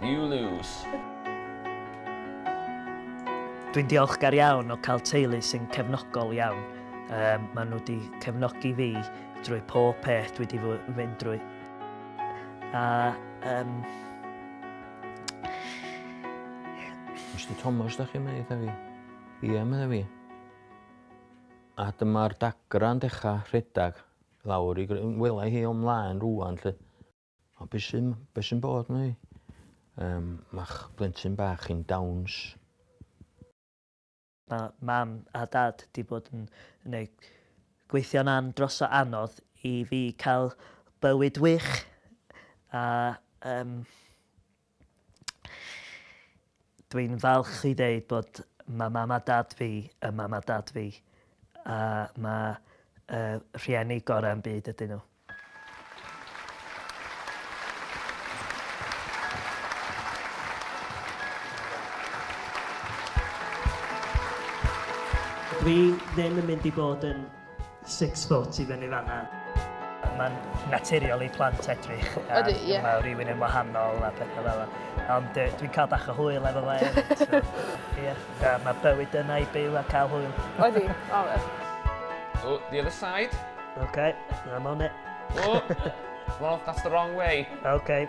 You lose. Dwi'n diolchgar iawn o cael teulu sy'n cefnogol iawn. Yym, maen nhw wedi cefnogi fi drwy pob peth dwi wedi fynd drwy. A, um... Mr Thomas, da chi'n meddwl fi? Ie, meddwl fi. A dyma'r dagra'n dechrau rhedeg lawr i... Wela hi o'm mlaen rwan, lle. O be' sy'n be' sy'n bod 'wn i? Yym ma'ch blentyn bach chi'n dawns. Ma' mam a dad 'di bod yn neu' gweithio'n an- dros o anodd i fi ca'l bywyd wych a yym Dwi'n falch i ddeud bod ma' mam a dad fi yn mam a dad fi a ma' y rhieni gora' yn byd ydyn nhw. Dwi ddim yn mynd i bod yn Six foot i fyny fanna. Mae'n naturiol i plant edrych ar rhywun yn wahanol a pethau fel yna. Ond dwi'n cael bach o hwyl efo fe hefyd. Mae bywyd yna i byw a cael hwyl. Odi, o wir. Oh, the other side. Okay, I'm on it. Oh, well, that's the wrong way. Okay.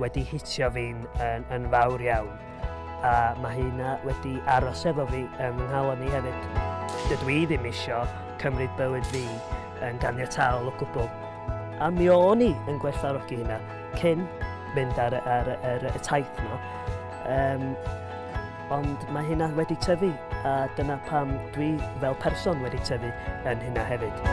wedi hitio fi'n yn, yn fawr iawn. A mae hynna wedi aros efo fi yn fy nghalon i hefyd. Dydw i ddim isio cymryd bywyd fi yn ganiataol o gwbl. A mi o'n i yn gwerthfarogi hynna cyn mynd ar, ar, ar, ar y taith yma. Um, Ond mae hynna wedi tyfu, a dyna pam dwi fel person wedi tyfu yn hynna hefyd.